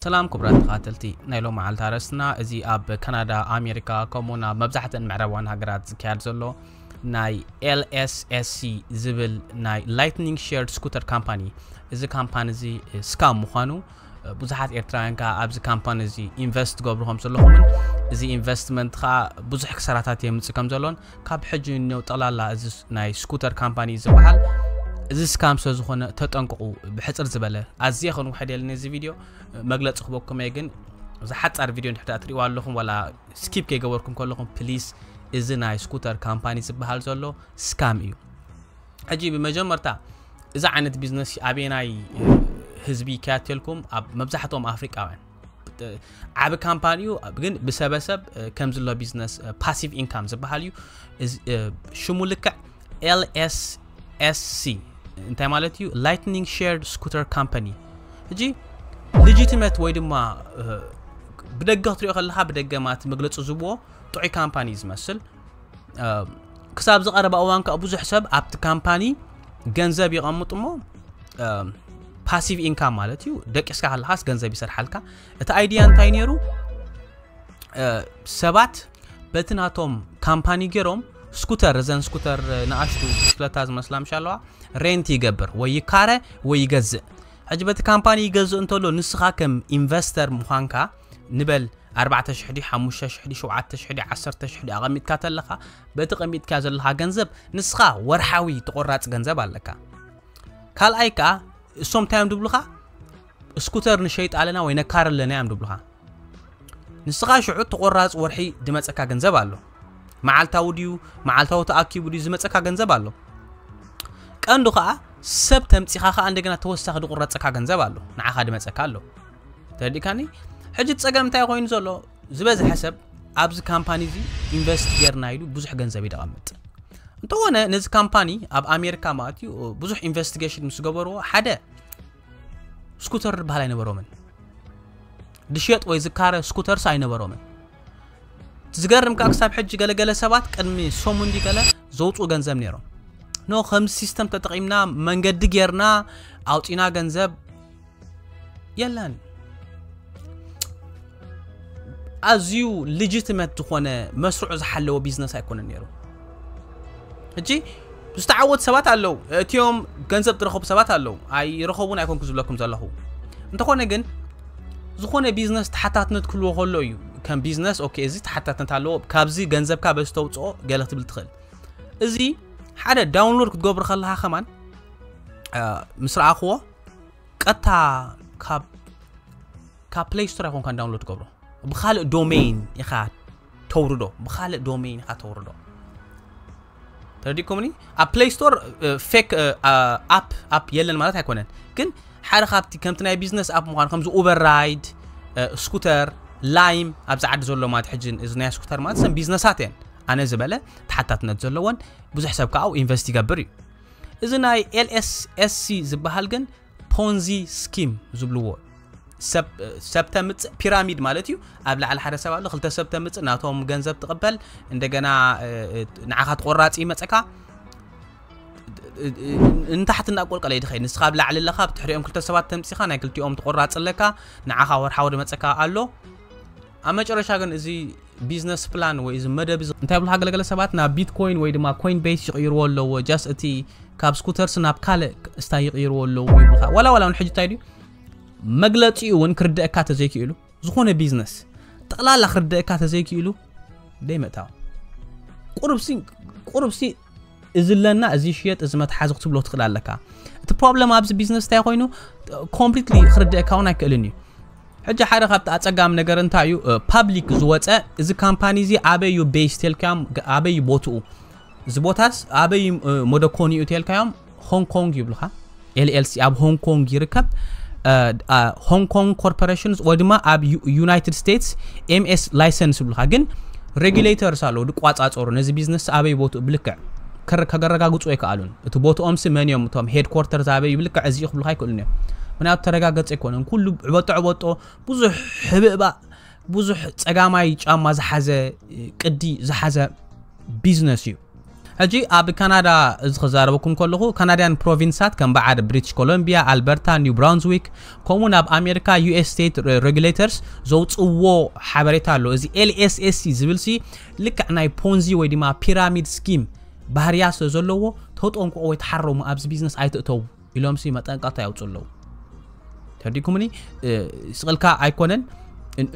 ሰላም ክቡራት ተኻተልቲ ናይ ሎማዓልቲ ኣርእስትና እዚ ኣብ ካናዳ ኣሜሪካ ከምኡ ውን ኣብ መብዛሕተን ምዕራባውያን ሃገራት ዝካየድ ዘሎ ናይ LSSC ዝብል ናይ ላይትኒንግ ሼርድ ስኩተር ካምፓኒ እዚ ካምፓኒ እዚ ስካም ምዃኑ ብዙሓት ኤርትራውያን ከዓ ኣብዚ ካምፓኒ እዚ ኢንቨስት ገብሩ ከም ዘለኹምን እዚ ኢንቨስትመንት ከዓ ብዙሕ ክሰራታት የምፅእ ከም ዘሎን ካብ ሕጂ ንንየው ጠቅላላ እዚ ናይ ስኩተር ካምፓኒ እዩ ዝበሃል እዚ ስካም ስለ ዝኾነ ተጠንቅቑ ብሕጽር ዝበለ ኣዝየ ከንውሕድ የለ ነዚ ቪድዮ መግለጺ ክበኩም እየ ግን እዛ ሓጻር ቪድዮ እንድሕዳ ትሪእዋ ኣለኹም ዋላ ስኪፕ ከይገበርኩም ከለኹም ፕሊስ እዚ ናይ ስኩተር ካምፓኒ ዝበሃል ዘሎ ስካም እዩ ሕጂ ብመጀመርታ እዚ ዓይነት ቢዝነስ ኣበናይ ህዝቢ ይከያተልኩም ኣብ መብዛሕትኦም ኣፍሪቃውያን ዓብ ካምፓኒ ዩ ግን ብሰበሰብ ከምዚ ሎ ቢዝነስ ፓሲቭ ኢንካም ዝበሃል እዩ ሽሙ ልክዕ lssc እንታይ ማለት እዩ ላይትኒንግ ሸርድ ስኩተር ካምፓኒ እጂ ልጂትመት ወይ ድማ ብደገ ክትሪኦ ከለካ ብደገ ማለት መግለፂ ዝብዎ ጥዑይ ካምፓኒ ዝመስል ክሳብ ዝቐረባ እዋን ከዓ ብዙሕ ሰብ ኣብቲ ካምፓኒ ገንዘብ ይቐምጡ እሞ ፓሲቭ ኢንካም ማለት እዩ ደቂስካ ከለካስ ገንዘብ ይሰርሓልካ እቲ ኣይድያ እንታይ ነይሩ ሰባት በቲ ናቶም ካምፓኒ ገይሮም ስኩተር እዘን ስኩተር ንኣሽቱ ብሽክለታ ዝመስላ ምሻ ኣለዋ ሬንት ይገብር ወይ ይካረ ወይ ይገዝእ ሕጂ በቲ ካምፓኒ ይገዝእ እንተሎ ንስኻ ከም ኢንቨስተር ምዃንካ ንበል ኣርባዕተ ሽሕ ድዩ ሓሙሽተ ሽሕ ድዩ ሸውዓተ ሽሕ ድዩ ዓሰርተ ሽሕ ድዩ ኣቐሚጥካ ተለኻ በቲ ቀሚጥካዮ ዘለኻ ገንዘብ ንስኻ ወርሓዊ ተቖራፂ ገንዘብ ኣለካ ካልኣይ ከዓ እሶም እንታይ እዮም ድብሉኻ ስኩተር ንሸይጥ ኣለና ወይ ነካር ኣለና እዮም ድብሉኻ ንስኻ ሽዑ ተቖራፂ ወርሒ ድመፀካ ገንዘብ ኣሎ መዓልታዊ ድዩ መዓልታዊ ተኣኪቡ ድዩ ዝመፀካ ገንዘብ ኣሎ ቀንዱ ከዓ ሰብ ተምፂኻ ከዓ እንደገና ተወሳኺ ድቑረፀካ ገንዘብ ኣሎ ንዓኻ ድመፀካ ኣሎ ተረዲእካኒ ሕጂ ፀገም እንታይ ኮይኑ ዘሎ ዝበዝሐ ሰብ ኣብዚ ካምፓኒ እዚ ኢንቨስት ጌርና ኢሉ ብዙሕ ገንዘብ እዩ ደቐምጥ እንተኾነ ነዚ ካምፓኒ ኣብ ኣሜሪካ ማለት እዩ ብዙሕ ኢንቨስቲጌሽን ምስ ገበርዎ ሓደ ስኩተር ዝበሃል ኣይነበሮምን ድሸጥ ወይ ዝካረ ስኩተርስ ኣይነበሮምን ዝገርም ከዓ ክሳብ ሕጂ ገለገለ ሰባት ቅድሚ ሰሙን ገለ ዘውፅኡ ገንዘብ ነይሮም ኖ ከምዚ ሲስተም ተጠቒምና መንገዲ ጌርና ኣውፂና ገንዘብ የለን ኣዝዩ ልጅትመት ዝኾነ መስርዑ ዝሓለወ ቢዝነስ ኣይኮነን ነይሩ እጂ ዝተዓወቱ ሰባት ኣለዉ እትዮም ገንዘብ ዝረኸቡ ሰባት ኣለዉ ኣይረኸቡን ኣይኮንኩ ዝብለኩም ዘለኹ እንተኾነ ግን ዝኾነ ቢዝነስ ተሓታትነት ክህልዎ ከሎ እዩ ከም ቢዝነስ ኦኬ እዚ ተሓታትነት ኣለዎ ካብዚ ገንዘብካ በዚ ተውፅኦ ገለ ክትብል ትኽእል እዚ ሓደ ዳውንሎድ ክትገብሩ ከለካ ከማን ምስ ረኣኽዎ ቀጥታ ካብ ካብ ፕሌይ ስቶር ኣይኮንካ ዳውንሎድ ትገብሮ ብካልእ ዶሜይን ኢኻ ተውርዶ ብካልእ ዶሜይን ኢኻ ተውርዶ ተረዲእኩምኒ ኣብ ፕሌይ ስቶር ፌክ ኣፕ ኣፕ የለን ማለት ኣይኮነን ግን ሓደ ካብቲ ከምቲ ናይ ቢዝነስ ኣፕ ምኳኑ ከምዚ ኡበር ራይድ ስኩተር ላይም ኣብዚ ዓዲ ዘሎ ማለት ሕጂ እዚ ናይ ስኩተር ማለት ሰም ቢዝነሳት እየን ኣነ ዝበለ ተሓታትነት ዘለዎን ብዙሕ ሰብ ከዓ ኢንቨስት ይገብር እዩ እዚ ናይ ኤልኤስኤስሲ ዝበሃል ግን ፖንዚ ስኪም ዝብልዎ ሰብ ተምፅእ ፒራሚድ ማለት እዩ ኣብ ላዕሊ ሓደ ሰብ ኣሎ ክልተ ሰብ ተምፅእ ናቶም ገንዘብ ትቕበል እንደገና ንዓኻ ትቆራፂ ይመፀካ እንታሕቲ እናቆልቀለ ይድኸይ ንስኻ ኣብ ላዕሊ ኣለኻ ብትሕሪኦም ክልተ ሰባት ተምፂኻ ናይ ክልቲኦም ትቆራፂ ኣለካ ንዓኻ ወርሓዊ ድመፀካ ኣሎ ኣብ መጨረሻ ግን እዚ ቢዝነስ ፕላን ወይ እዚ መደብ እዚ እንታይ ብልካ ገለገለ ሰባት ናብ ቢትኮይን ወይ ድማ ኮይን ቤስ ይቕይርዎ ኣለዎ ጃስ እቲ ካብ ስኩተርስ ናብ ካልእ እስታይ ይቕይርዎ ኣለዎ ይብልካ ዋላ ዋላ እውን ሕጂ እንታይ ድዩ መግለፂኡ እውን ክርድእካ ተዘይክእሉ ዝኾነ ቢዝነስ ጠቕላላ ክርድእካ ተዘይክእሉ ደይ ምእታው ቁርብሲ ቁርብሲ እዚ ኣለና እዚ ይሽየጥ እዚ መትሓዚ ክትብሎ ትኽእል ኣለካ እቲ ፕሮብለም ኣብዚ ቢዝነስ እንታይ ኮይኑ ኮምፕሊትሊ ክርድአካ እውን ኣይክእልን እዩ ሕጂ ሓደ ካብቲ ኣጸጋሚ ነገር እንታይ እዩ ፓብሊክ ዝወፀ እዚ ካምፓኒ እዚ ኣበይ እዩ ቤስ ቴልካዮም ኣበይ እዩ ቦትኡ እዚ ቦታስ ኣበይ መደኮኒ እዩ ቴልካዮም ሆንግ ኮንግ ይብልካ ኤልኤልሲ ኣብ ሆንግ ኮንግ ይርከብ። ሆንግ ኮንግ ኮርፖሬሽንስ ወይ ድማ ኣብ ዩናይትድ ስቴትስ ኤምኤስ ላይሰንስ ይብሉካ ግን ሬጉሌተርስ ኣለዉ ድቋፃፀሩ ነዚ ቢዝነስ ኣበይ ቦትኡ ብልክዕ ከረጋግፁ ኣይከኣሉን እቲ ቦትኦምሲ መን እዮም እቶም ሄድኮርተር ዛበይ ብልክዕ እዚ ክብሉካ ኣይክእሉን እዮም ምክንያቱ ተረጋገፀ ኣይኮነን ኩሉ ዕበጦ ዕበጦ ብዙሕ ሕብእባእ ብዙሕ ፀጋማይ ጫማ ዝሓዘ ቅዲ ዝሓዘ ቢዝነስ እዩ ሕጂ ኣብ ካናዳ እዚ ክዛረበኩም ከለኹ ካናድያን ፕሮቪንሳት ከም በዓል ብሪቲሽ ኮሎምቢያ፣ ኣልበርታ፣ ኒው ብራንዝዊክ ከምኡውን ኣብ ኣሜሪካ ዩኤስ ስቴት ሬጉሌተርስ ዘውጽዎ ሓበሬታ ኣሎ። እዚ LSSC ዝብልሲ ልክዕ ናይ ፖንዚ ወይ ድማ ፒራሚድ ስኪም ባህርያት ስለ ዘለዎ ተጠንቀቑ ወይ ተሓረሙ ኣብዚ ቢዝነስ ኣይትእተዉ። ኢሎምሲ መጠንቀቕታ የውፅኡ ኣለዉ ተርዲኩምኒ ስቕልካ ኣይኮነን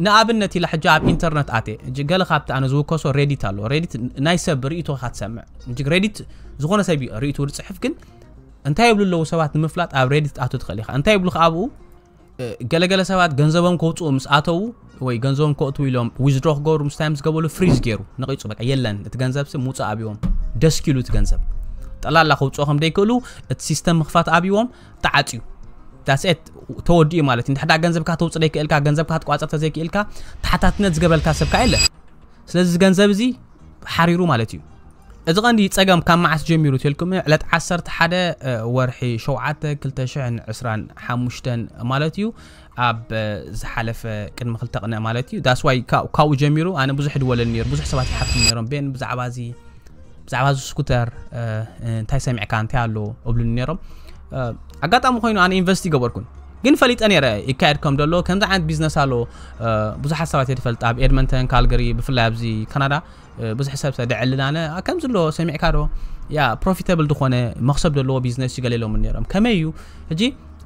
ንኣብነት ኢላ ሕጂ ኣብ ኢንተርነት ኣትየ እጂ ገለ ካብቲ ኣነ ዝውከሶ ሬዲት ኣሎ ሬዲት ናይ ሰብ ርእቶ ኢኻ ትሰምዕ እጂ ሬዲት ዝኾነ ሰብ እዩ ርእቱ ዝፅሕፍ ግን እንታይ ይብሉ ኣለዉ ሰባት ንምፍላጥ ኣብ ሬዲት ኣቶ ትኽእል ኢኻ እንታይ ይብሉ ኣብኡ ገለገለ ሰባት ገንዘቦም ከውፅኡ ምስ ኣተዉ ወይ ገንዘቦም ከእትዉ ኢሎም ዊዝድሮ ክገብሩ ምስ ታይም ዝገበሉ ፍሪዝ ገይሩ ነቂፁ በቃ የለን እቲ ገንዘብ ሲ ምውፃእ ኣብዎም ደስኪሉ እቲ ገንዘብ ጠላላ ከውፅኦ ከም ደይክእሉ እቲ ሲስተም ምኽፋት ኣብዎም ተዓፅዩ ዳስኤት ተወዲኡ ማለት እዩ ንድሕዳ ገንዘብካ ተውፅ ደይክእልካ ገንዘብካ ክትቋፀር ተዘይክእልካ ተሓታትነት ዝገበልካ ሰብ ከዓ የለን ስለዚ እዚ ገንዘብ እዚ ሓሪሩ ማለት እዩ እዚ ቀንዲ ጸገም ካብ መዓስ ጀሚሩ ትልኩም ዕለት 11 ወርሒ 7 2025 ማለት እዩ ኣብ ዝሓለፈ ቅድሚ ክልተ ቅነ ማለት እዩ ዳስ ዋይ ካብኡ ጀሚሩ ኣነ ብዙሕ ድወለል ነሩ ብዙሕ ሰባት ይሓፍቱ ነሮም ቤን ብዛዕባ እዚ ብዛዕባ እዚ ስኩተር እንታይ ሰሚዕካ እንታይ ኣሎ እብሉኒ ነሮም ኣጋጣሚ ኮይኑ ኣነ ኢንቨስቲ ገበርኩን ግን ፈሊጠ ነይረ ይካየድ ከም ደሎ ከምዚ ዓይነት ቢዝነስ ኣሎ ብዙሓት ሰባት እየ ድፈልጥ ኣብ ኤድመንተን ካልገሪ ብፍላይ ኣብዚ ካናዳ ብዙሕ ሰብ ሰ ደዕልናነ ከምዚ ኣሎ ሰሚዕካ ዶ ያ ፕሮፊተብል ዝኾነ መክሰብ ደለዎ ቢዝነስ እዩ ገሌሎም ነይሮም ከመይ እዩ ሕጂ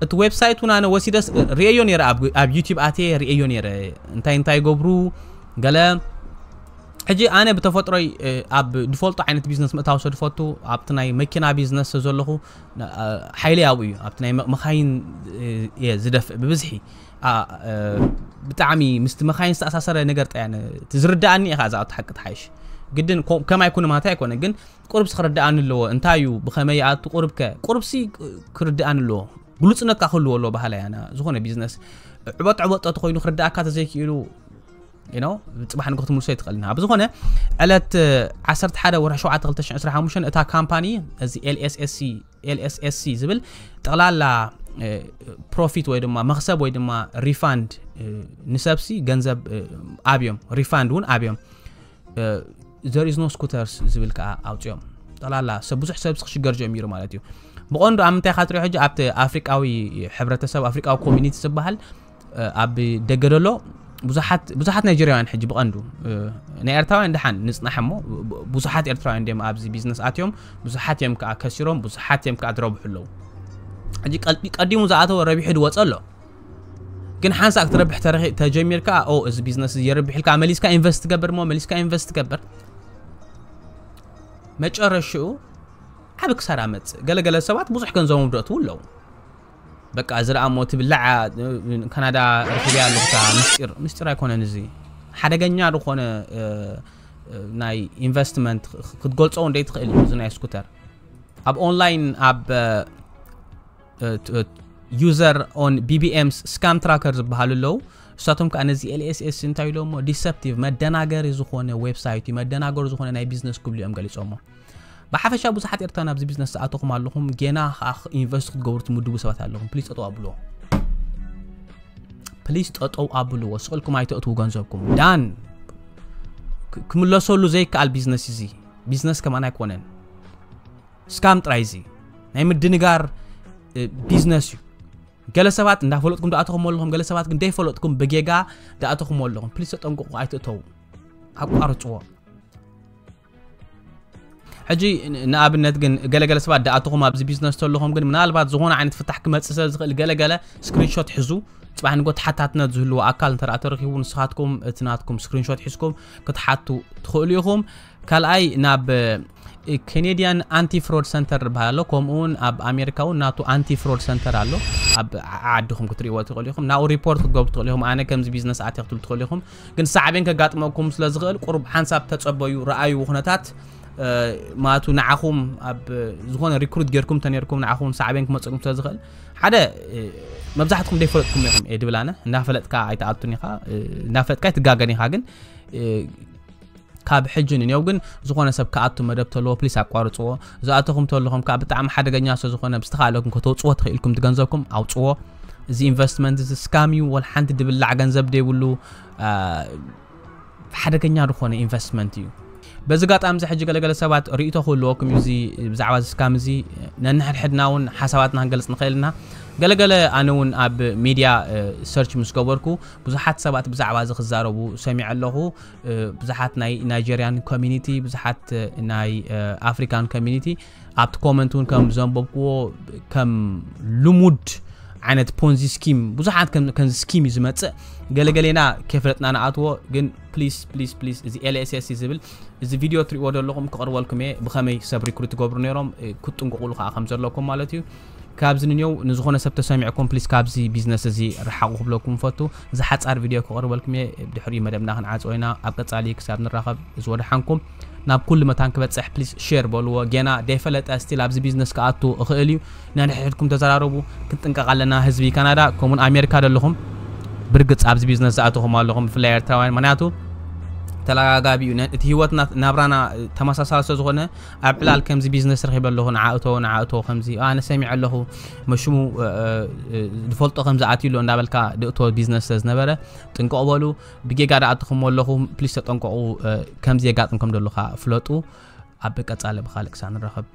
እቲ ዌብሳይት እውን ኣነ ወሲደስ ርእዮ ነረ ኣብ ዩቲብ ኣትየ ርእዮ ነረ እንታይ እንታይ ገብሩ ገለ ሕጂ ኣነ ብተፈጥሮይ ኣብ ድፈልጦ ዓይነት ቢዝነስ ምእታው ሰድፈቱ ኣብቲ ናይ መኪና ቢዝነስ ዘለኹ ሓይለይ ኣብኡ እዩ ኣብቲ ናይ መካይን እየ ዝደፍእ ብብዝሒ ብጣዕሚ ምስቲ መካይን ዝተኣሳሰረ ነገር ጠያ እቲ ዝርዳእኒ ኢኻ እዛ ሓቂ ትሓይሽ ግድን ከም ኣይኮነ ማለት ኣይኮነ ግን ቁርብሲ ክርዳእኒ ኣለዎ እንታይ እዩ ብኸመይ ይኣቱ ቁርብከ ቁርብሲ ክርዳእኒ ኣለዎ ግሉፅነትካ ክህልዎ ኣለዎ ባህላ ያና ዝኾነ ቢዝነስ ዕበጥ ዕበጦ ተኮይኑ ክርዳእካ ተዘይክኢሉ ጽባሕ ንግሆ ክትምልሶ ኣይትኽእልን ኣብ ዝኾነ ዕለት 11 ወርሒ 7 2025 እታ ካምፓኒ እዚ ኤልኤስኤስሲ ኤልኤስኤስሲ ዝብል ጠቕላላ ፕሮፊት ወይ ድማ መክሰብ ወይ ድማ ሪፋንድ ንሰብሲ ገንዘብ ኣብዮም ሪፋንድ እውን ኣብዮም ዘሪዝኖ ስኩተርስ ዝብል ከዓ ኣውፅኦም ጠቕላላ ሰብ ብዙሕ ሰብሲ ክሽገር ጀሚሩ ማለት እዩ ብቐንዱ ኣብ ምንታይ ካትሪኦ ሕጂ ኣብቲ ኣፍሪቃዊ ሕብረተሰብ ኣፍሪቃዊ ኮሚኒቲ ዝበሃል ኣብ ደገ ደሎ ብዙሓት ብዙሓት ናይጀርያውያን ሕጂ ብቐንዱ ናይ ኤርትራውያን ድሓን ንጽናሕ እሞ ብዙሓት ኤርትራውያን ድም ኣብዚ ቢዝነስ ኣትዮም ብዙሓት እዮም ከዓ ከሲሮም ብዙሓት እዮም ከዓ ዝረብሑ ኣለዉ ሕጂ ቀዲሙ ዝኣተወ ረቢሑ ድወፀ ኣሎ ግን ሓንሳእ ክትረብሕ ተጀሚርካ ኦ እዚ ቢዝነስ እዚ የርብሕ ኢልካ መሊስካ ኢንቨስት ትገብር እሞ መሊስካ ኢንቨስት ትገብር መጨረሽኡ ዓብ ክሳራ መፅእ ገለገለ ሰባት ብዙሕ ገንዘቦም ደእትዉ ኣለዉ በቃ እዚ ደኣ እሞ ትብላዕ እያ ካናዳ ረኺበያ ኣለኹ እታ ምስጢር ምስጢር ኣይኮነን እዚ ሓደገኛ ዝኾነ ናይ ኢንቨስትመንት ክትገልጾ እንደይ ትኽእል እዩ እዚ ናይ ስኩተር ኣብ ኦንላይን ኣብ ዩዘር ኦን ቢቢኤምስ ስካም ትራከር ዝበሃሉ ኣለዉ እሳቶም ከዓ ነዚ ኤልኤስኤስ እንታይ ኢሎሞ ዲሰፕቲቭ መደናገሪ ዝኾነ ዌብሳይት እዩ መደናገሪ ዝኾነ ናይ ቢዝነስ ክብሉ እዮም ገሊፆሞ ብሓፈሻ ብዙሓት ኤርትራ ናብዚ ቢዝነስ ዝኣተኹም ኣለኹም ጌና ከዓ ኢንቨስት ክትገብሩ ትምድቡ ሰባት ኣለኹም ፕሊስ ጠጠው ኣብልዎ ፕሊስ ጠጠው ኣብልዎ ስቕልኩም ኣይተእትዉ ገንዘብኩም ዳን ክምለሰሉ ዘይከኣል ቢዝነስ እዚ ቢዝነስ ከማን ኣይኮነን ስካም ጥራይ እዚ ናይ ምድንጋር ቢዝነስ እዩ ገለ ሰባት እንዳፈለጥኩም ዳኣተኹም ኣለኹም ገለ ሰባት ግን ደይፈለጥኩም ብጌጋ ዳኣተኹም ኣለኹም ፕሊስ ተጠንቅቑ ኣይትእተዉ ኣቋርፅዎ ሕጂ ንኣብነት ግን ገለገለ ሰባት ደኣተኹም ኣብዚ ቢዝነስ ተለኹም ግን ምናልባት ዝኾነ ዓይነት ፍታሕ ክመፅእ ስለ ዝኽእል ገለገለ ስክሪንሾት ሕዙ ፅባሕ ንጎ ተሓታትነት ዝህልዎ ኣካል እንተ ተረኪቡ ንስኻትኩም እቲ ናትኩም ስክሪንሾት ሒዝኩም ክትሓቱ ትኽእሉ ኢኹም ካልኣይ ናብ ኬኔድያን ኣንቲ ፍሮድ ሰንተር ዝበሃል ኣሎ ከምኡ እውን ኣብ ኣሜሪካ እውን ናቱ ኣንቲ ፍሮድ ሰንተር ኣሎ ኣብ ዓድኹም ክትሪእዎ ትኽእሉ ኢኹም ናብኡ ሪፖርት ክትገብሩ ትኽእሉ ኢኹም ኣነ ከምዚ ቢዝነስ ኣትየ ክትብሉ ትኽእሉ ኢኹም ግን ሳዕቤን ከጋጥመኩም ስለ ዝኽእል ቁሩብ ሓንሳብ ተጸበዩ ረኣዩ ኩነታት ማቱ ንዓኹም ኣብ ዝኾነ ሪክሩት ጌርኩም ተነርኩም ንዓኹም ሳዕቤን ክመጽእኩም ስለ ዝኽእል ሓደ መብዛሕትኩም ደይፈለጥኩም ኢኹም እየ ድብል ኣነ እንዳፈለጥካ ኣይትኣቱን ኢኻ እንዳፈለጥካ ኣይትጋገን ኢኻ ግን ካብ ሕጂ ንኔው ግን ዝኾነ ሰብ ክኣቱ መደብ ተለዎ ፕሊስ ኣቋርጽዎ ዝኣተኹም ተለኹም ከኣ ብጣዕሚ ሓደገኛ ስለ ዝኾነ ብዝተኻእለኩም ከተውጽዎ ተኽኢልኩም ትገንዘብኩም ኣውጽዎ እዚ ኢንቨስትመንት እዚ ስካም እዩ ወላ ሓንቲ ድብላዕ ገንዘብ ደይብሉ ሓደገኛ ዝኾነ ኢንቨስትመንት እዩ በዚ ጋጣሚ እዚ ሕጂ ገለገለ ሰባት ርእቶ ክህልወኩም እዩ እዚ ብዛዕባ እዚ ስካም እዚ ነንሕድሕድና እውን ሓሳባትና ክንገልጽ ንኽእል ኢና ገለገለ ኣነ እውን ኣብ ሚድያ ሰርች ምስ ገበርኩ ብዙሓት ሰባት ብዛዕባ እዚ ክዛረቡ ሰሚዐ ኣለኹ ብዙሓት ናይ ናይጀርያን ኮሚኒቲ ብዙሓት ናይ ኣፍሪካን ኮሚኒቲ ኣብቲ ኮመንት እውን ከም ዘንበብክዎ ከም ልሙድ ዓይነት ፖንዚ ስኪም ብዙሓት ከምዚ ስኪም እዩ ዝመፅእ ገለገሌና ከፍለጥና ንኣትዎ ግን ፕሊስ ፕሊስ ፕሊስ እዚ ኤልስስ ዝብል እዚ ቪድዮ ትሪእዎ ዘለኹም ክቕርበልኩም እየ ብኸመይ ሰብ ሪክሩት ትገብሩ ነይሮም ክጥንቅቑሉ ከዓ ከም ዘለኩም ማለት እዩ ካብዚ ንንዮው ንዝኾነ ሰብ ተሰሚዕኩም ፕሊስ ካብዚ ቢዝነስ እዚ ርሓቑ ክብለኩም እፈቱ። እዛ ሓጻር ቪድዮ ክቕርበልኩም እየ ብድሕሪኡ መደብና ክንዓጽዎ ኢና። ኣብ ቀጻሊ ክሳብ ንራኸብ እዝ ወደሓንኩም። ናብ ኩሉ መታን ክበጽሕ ፕሊስ ሼር በልዎ። ጌና ደይፈለጠ ስቲል ኣብዚ ቢዝነስ ክኣቱ እኽእል እዩ። ነንሕድሕድኩም ተዘራረቡ። ክንጥንቀቕ ኣለና ህዝቢ ካናዳ ከምኡውን ኣሜሪካ ደለኹም ብርግጽ ኣብዚ ቢዝነስ ዝኣተኹም ኣለኹም ብፍላይ ኤርትራውያን ምክንያቱ ተላጋጋቢ እዩ እቲ ህይወትና ናብራና ተመሳሳሊ ስለዝኾነ ኣብ ዕላል ከምዚ ቢዝነስ ረኺበ ኣለኹ ንዓ እቶ ንዓ እቶ ከምዚ ኣነ ሰሚዐ ኣለኹ መሽሙ ዝፈልጦ ከምዚ ኣትዩ ኣሎ እንዳበልካ ድእቶ ቢዝነስ ስለዝነበረ ጥንቀቑ በሉ ብጌጋ ድኣትኹሞ ኣለኹም ፕሊስ ተጠንቀቑ ከምዚ የጋጥም ከም ደሉካ ፍለጡ ኣብ ቀጻሊ ብካልእ ክሳብ ንራኸብ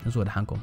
እዚ ወድሓንኩም